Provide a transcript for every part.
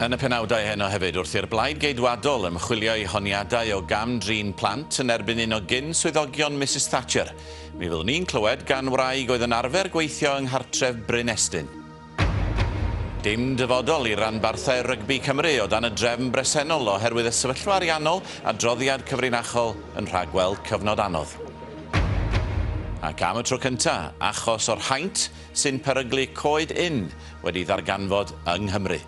Yn y penawdau heno hefyd, wrth i'r Blaid Geidwadol ymchwilio i honiadau o gam-drin plant yn erbyn un o gyn-swyddogion Misus Thatcher, mi fyddwn ni'n clywed gan wraig oedd yn arfer gweithio yng nghartref Bryn Estyn. Dim dyfodol i ranbarthau rygbi Cymru o dan y drefn bresennol oherwydd y sefyllfa ariannol, adroddiad cyfrinachol yn rhagweld cyfnod anodd. Ac am y tro cyntaf, achos o'r haint sy'n peryglu coed ynn wedi ddarganfod yng Nghymru.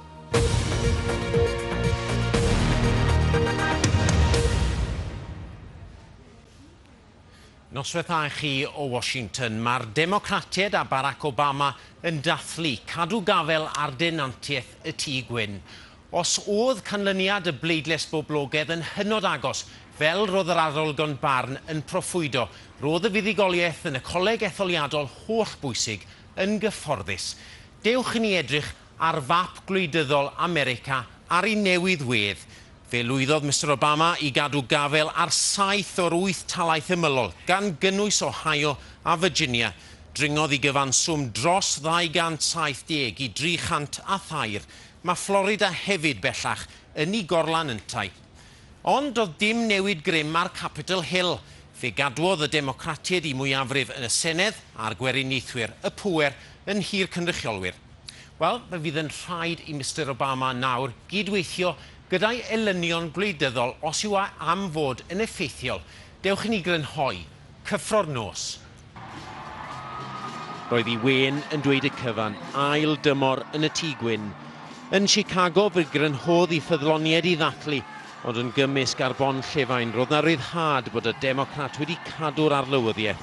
Noswaith a chi o Washington. Mae'r Democratiaid a Barack Obama yn dathlu cadw gafael ar denantiaeth y Tŷ Gwyn. Os oedd canlyniad y bleidlais boblogaidd yn hynod agos, fel roedd yr arolygon barn yn proffwydo, roedd y fuddugoliaeth yn y coleg etholiadol holl bwysig yn gyfforddus. Dewch i ni edrych ar fap gwleidyddol America ar ei newydd wedd, fe lwyddodd Mister Obama i gadw gafael ar saith o'r wyth talaith ymylol, gan gynnwys Ohio a Virginia. Dringodd i gyfanswm dros 270 i 303. Mae Florida hefyd bellach yn ei gorlan yntau. Ond doedd dim newid grym ar Capitol Hill. Fe gadwodd y Democratiaid eu mwyafrif yn y Senedd a'r Gweriniaethwyr y pŵer yn nhir cynrychiolwyr. Wel, fe fydd yn rhaid i Mister Obama nawr gyd-weithio gyda'i elynion gwleidyddol os yw a am fod yn effeithiol. Dewch i ni grynhoi. Cyffro'r nos. Roedd i Wên yn dweud y cyfan ail dymor yn y Tŷ Gwyn yn Chicago fe grynhodd i ffyddloniaid i ddathlu, ond yn gymysg ar bon llefain roedd 'na ryddhad bod y Democrat wedi cadw'r arlywyddiaeth.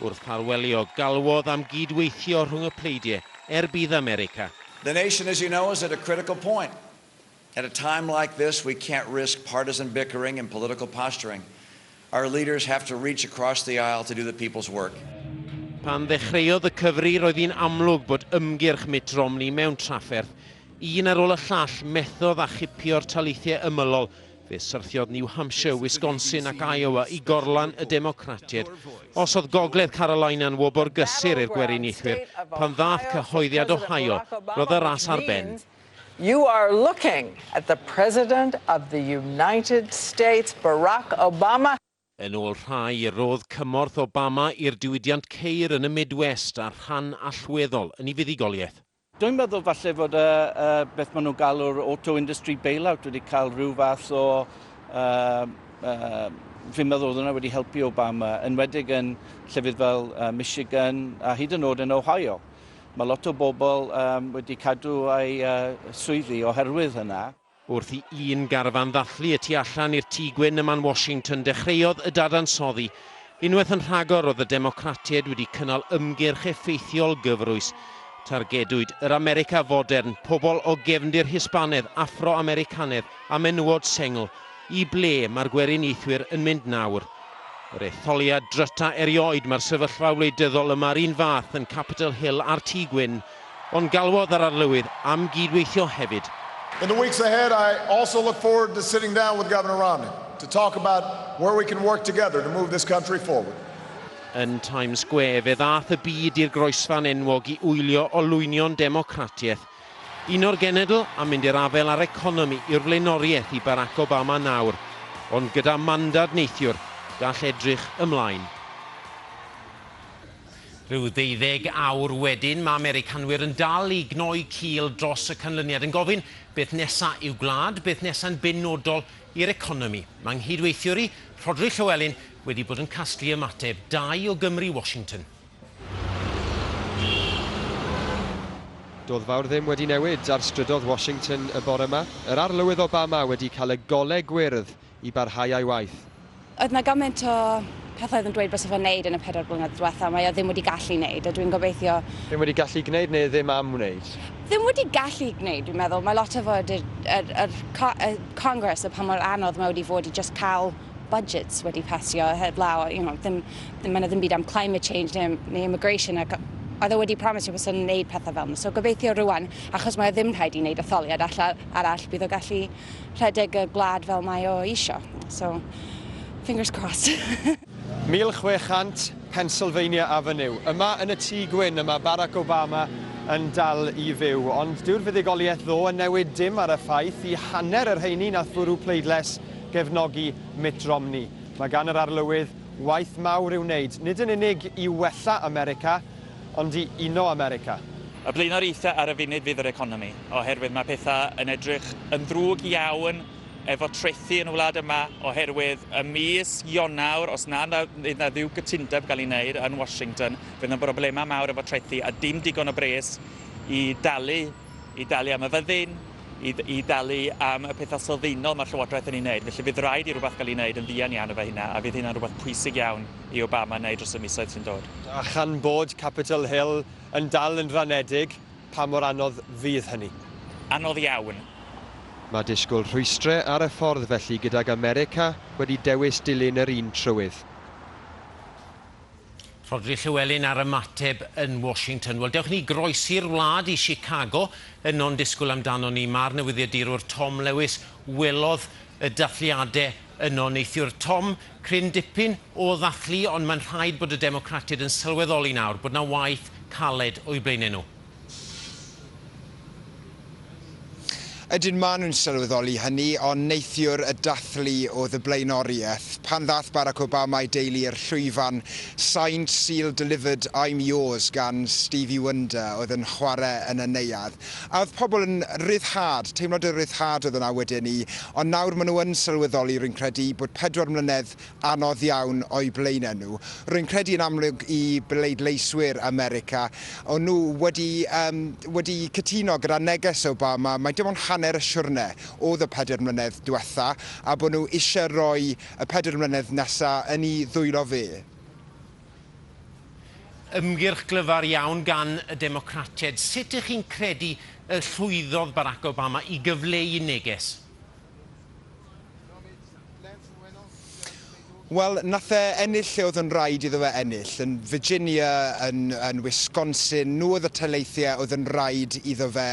Wrth ffarwelio, galwodd am gyd-weithio rhwng y pleidie er budd America. The nation, as you know, is at a critical point. At a time like this, we can't risk partisan bickering and political posturing. Our leaders have to reach across the aisle to do the people's work. Pan ddechreuodd y cyfri, roedd hi'n amlwg bod ymgyrch Mitt Romney mewn trafferth. Un ar ôl y llall, methodd â chipio'r taleithiau ymylol Fe syrthiodd New Hampshire, Wisconsin ac Iowa i gorlan y Democratiaid. Osiodd Gogledd Carolina'n wobr gysur i'r Gweriniaethwyr pan ddaeth cyhoeddiad Ohio, roedd y ras ar ben. You are looking at the President of the United States, Barack Obama. Yn ôl rhai, rodd cymorth Obama i'r diwydiant ceir yn y Midwest a'r rhan allweddol yn ei fuddugoliaeth. Dwi'n meddwl falle fod y, y, beth maen nhw'n galw'r auto industry bailout wedi cael rhyw fath o... Uh, uh, fi'n meddwl oedd hwnna wedi helpu Obama, enwedig yn llefydd fel uh, Michigan a hyd yn oed yn Ohio. Mae lot o bobl um, wedi cadw ei uh, swyddi oherwydd hynna. Wrth i un garfan ddathlu y tu allan i'r Tŷ Gwyn ym Man Washington dechreuodd y dadansoddi. Unwaith yn rhagor roedd y Democratiaid wedi cynnal ymgyrch effeithiol gyfrwys. Targedwyd yr America fodern, pobl o gefndir Hispanedd, Affro-Americanedd a menywod sengl. I ble mae'r Gweriniaethwyr yn mynd nawr? Yr etholiad dryta erioed, mae'r sefyllfa wleidyddol yma yr un fath yn Capitol Hill a'r Tŷ Gwyn. Ond galwodd yr Arlywydd am gyd-weithio hefyd. In the weeks ahead, I also look forward to sitting down with Governor Romney to talk about where we can work together to move this country forward. Yn Times Square, fe ddaeth y byd i'r groesfan enwog i wylio olwynion democratiaeth. Un o'r genedl am mynd i'r afael â'r economi yw'r flaenoriaeth i Barack Obama nawr, ond gyda mandad neithiwr, gall edrych ymlaen. Rhyw ddeuddeg awr wedyn, mae Americanwyr yn dal i gnoi cil dros y canlyniad, yn gofyn, beth nesa' i'w gwlad, beth nesa'n benodol i'r economi? Mae nghyd-weithiwr i, Rhodri Llywelyn, wedi bod yn casglu ymateb dau o Gymry Washington. Do'dd fawr ddim wedi newid ar strydodd Washington y bore 'ma. Yr Arlywydd Obama wedi cael y gole gwyrdd i barhau â'i waith. Oedd 'na gymaint o pethau oedd yn dweud byse fe'n wneud yn y pedair blynedd diwetha', mae o ddim wedi gallu wneud, a dwi'n gobeithio... Ddim wedi gallu gwneud neu ddim am wneud? Ddim wedi gallu gwneud, dwi'n meddwl. Mae lot o fod yr, yr, yr y Congress a pa mor anodd mae wedi fod i just cael budgets wedi pasio heblaw, you know, ddim, ddim, mae yna ddim byd am climate change neu, neu immigration ac oedd e wedi promisio bod yn wneud pethau fel yna. So gobeithio rwan, achos mae o ddim rhaid i wneud etholiad allan arall, bydd o gallu rhedeg y gwlad fel mae o isio. So, fingers crossed. 1600 Pennsylvania Avenue. Yma yn y Tŷ Gwyn, yma Barack Obama yn dal i fyw. Ond dyw'r fuddugoliaeth ddo yn newid dim ar y ffaith i hanner yr heini nath fwrw pleidles gefnogi Mitt Romney. Mae gan yr arlywydd waith mawr i'w wneud, nid yn unig i wella America, ond i uno America. Y blaenoriaethau ar y funud fydd yr economi, oherwydd mae pethau yn edrych yn ddrwg iawn efo trethi yn y wlad yma, oherwydd ym mis Ionawr, os na fydd na ddiw gytundeb gael ei wneud yn Washington, fydd yna broblemau mawr efo trethi a dim digon o bres i dalu, i dalu am y fyddin. i, i dalu am y pethau sylfaenol mae'r Llywodraeth yn ei wneud. Felly bydd rhaid i rhywbeth gael ei wneud yn ddian iawn efo hynna, a fydd hynna'n rhywbeth pwysig iawn i Obama wneud dros y misoedd sy'n dod. A chan bod Capitol Hill yn dal yn ranedig, pa mor anodd fydd hynny? Anodd iawn. Mae disgwyl rhwystrau ar y ffordd felly gydag America wedi dewis dilyn yr un trywydd. Rhodri Llewelyn ar ymateb yn Washington. Wel, dewch ni groesi'r wlad i Chicago. Yno'n disgwyl amdanon ni, mae'r newyddiadurwr Tom Lewis. Welodd y dathliadau yno neithiwr. Tom, cryn dipyn o ddathlu, ond mae'n rhaid bod y Democratiaid yn sylweddoli nawr bod 'na waith caled o'u blaenau nhw. Ydyn, maen nhw'n sylweddoli hynny, ond neithiwr y dathlu oedd y blaenoriaeth. Pan ddaeth Barack Obama a'i deulu i'r llwyfan, signed, sealed, delivered, I'm yours gan Stevie Wonder oedd yn chwarae yn y neuadd. A oedd pobl yn ryddhad, teimlad o ryddhad oedd yna wedyn 'ny. Ond nawr maen nhw yn sylweddoli, rwy'n credu, bod pedwar mlynedd anodd iawn o'u blaenau nhw. Rwy'n credu yn amlwg i bleidleiswyr America, o'n nhw wedi yym wedi cytuno gyda neges Obama mai dim ond hanner y siwrne oedd y pedair mlynedd diwetha, a bod nhw eisiau rhoi y pedair mlynedd nesa yn i ddwylo fe. Ymgyrch glyfar iawn gan y Democratiaid. Sut y'ch chi'n credu y llwyddodd Barack Obama i gyfleu neges? Wel, nath e ennill lle oedd yn raid iddo fe ennill, yn Virginia, yn yn Wisconsin, nhw oedd y taleithiau oedd yn raid iddo fe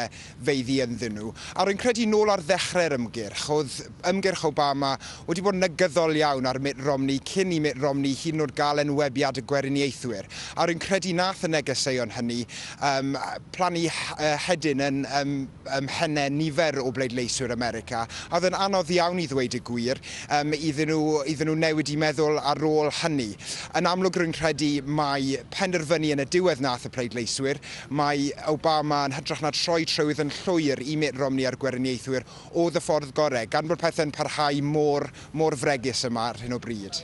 feiddi ynddyn nhw. A rwy'n credu, nôl ar ddechrau'r ymgyrch, oedd ymgyrch Obama wedi bod yn negyddol iawn ar Mitt Romney cyn i Mitt Romney hyd yn oed gael enwebiad y Gweriniaethwyr, a rwy'n credu nath y negeseuon hynny yym plannu hedyn yn yym ym mhennau nifer o bleidleiswyr America, a oedd yn anodd iawn i ddweud y gwir, yym, iddyn nhw, iddyn nhw newid i meddwl ar ôl hynny. Yn amlwg rwy'n credu mai penderfynu yn y diwedd nath y pleidleiswyr, mai Obama yn hytrach na troi trywydd yn llwyr i Mitt Romney a'r Gweriniaethwyr oedd y ffordd gorau, gan bod pethau'n parhau mor, mor fregus yma ar hyn o bryd.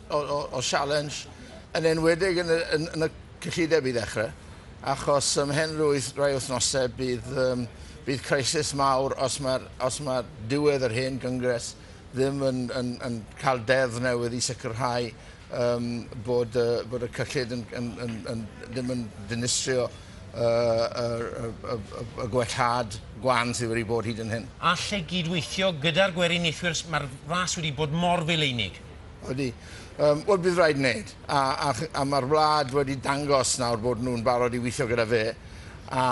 o, o, o sialens, yn enwedig yn y, yn, yn y cyllideb i ddechrau, achos ym mhen rwyth rai wythnosau bydd, um, bydd crisis mawr os mae, os mae diwedd yr hen gyngres ddim yn, yn, yn cael deddf newydd i sicrhau um, bod, uh, bod y cyllid yn, yn, yn, yn, ddim yn dinistrio y, y, y, y, y gwellhad gwan sydd wedi bod hyd yn hyn. Allai gyd-weithio gyda'r gweriniaethwyr, mae'r ras wedi bod mor feileinig. Ydy. Yym, wel bydd raid wneud. A, a, a mae'r wlad wedi dangos nawr bod nhw'n barod i weithio gyda fe. A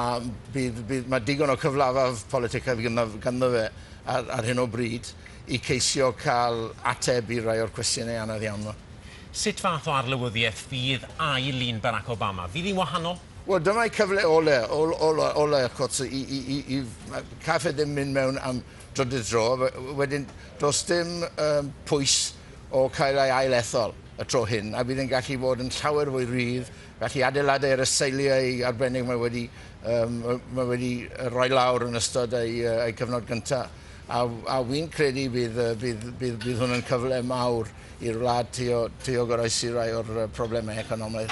bydd, bydd, mae digon o cyflafaf politicaidd ganddo, ganddo fe ar, ar hyn o bryd i ceisio cael ateb i rai o'r cwestiynau anodd iawn yma. Sut fath o arlywyddiaeth fydd ail un Barack Obama? Fydd hi'n wahanol? Wel, dyma'i cyfle ole, ole, ole, ole, wrth gwrs, i, i, i, i, caiff e ddim mynd mewn am drydydd tro, wedyn does dim um, pwys o cael ei ail ethol y tro hyn, a bydd yn gallu fod yn llawer fwy rhydd, gallu adeiladu ar y seiliau arbennig mae wedi, um, mae wedi rhoi lawr yn ystod ei, ei cyfnod gyntaf. A, a wy'n credu bydd, bydd, bydd, bydd hwn yn cyfle mawr i'r wlad teo, teo goroesi rai o'r problemau economaidd.